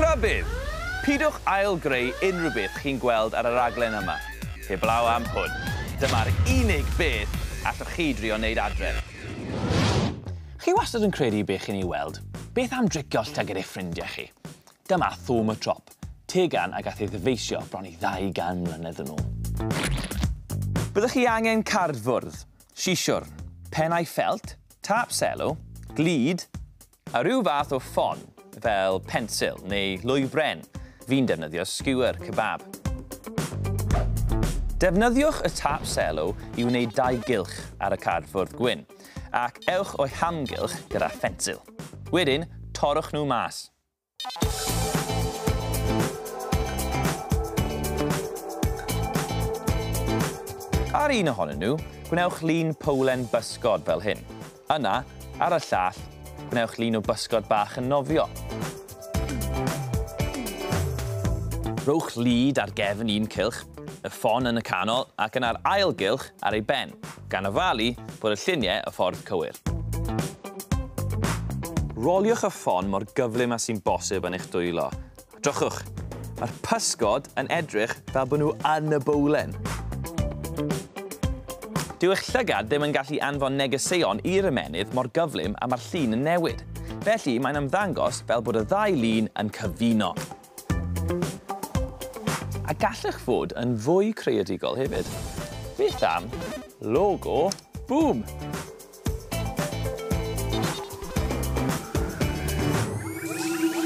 Rhybudd! Pidwch ail-greu unrhyw beth chi'n gweld ar y raglen yma, heblaw am hwn. Dyma'r unig beth allwch chi drio wneud adref. Chi wastad yn credu be chi'n ei weld, beth am dricio llyged eich ffrindiau chi? Dyma Thom y Trop, tegan a gath ei ddyfeisio bron i 200 mlynedd yn ôl. Byddwch chi angen cardfwrdd, siswrn, pennau ffelt, tâp selw, glud, A rhyw fath o ffon, fel pensil neu lwy bren, fi'n defnyddio skewer kebab. Defnyddiwch y tap selo i wneud dau gylch ar y cardfwrdd gwyn, ac ewch o'u hamgylch gyda phensil. Wedyn, torrwch nhw mas. Ar un ohonyn nhw, gwnewch lun powlen bysgod fel hyn. Yna, ar y llall, gwnewch lun o bysgod bach yn nofio. Rhowch lid ar gefn un cylch, y ffon yn y canol ac yna'r ail gylch ar ei ben. Gan ofalu bod y lluniau y ffordd cywir. Roliwch y ffon mor gyflym â sy'n bosib yn eich dwylo. A drychwch! Mae'r pysgod yn edrych fel bod nhw yn y bowlen! Dyw eich llygad ddim yn gallu anfon negeseuon i'r ymennydd mor gyflym a mae'r llun yn newid. Felly, mae'n ymddangos fel bod y ddau lun yn cyfuno. A gallech fod yn fwy creadigol hefyd. Beth am logo Bŵm?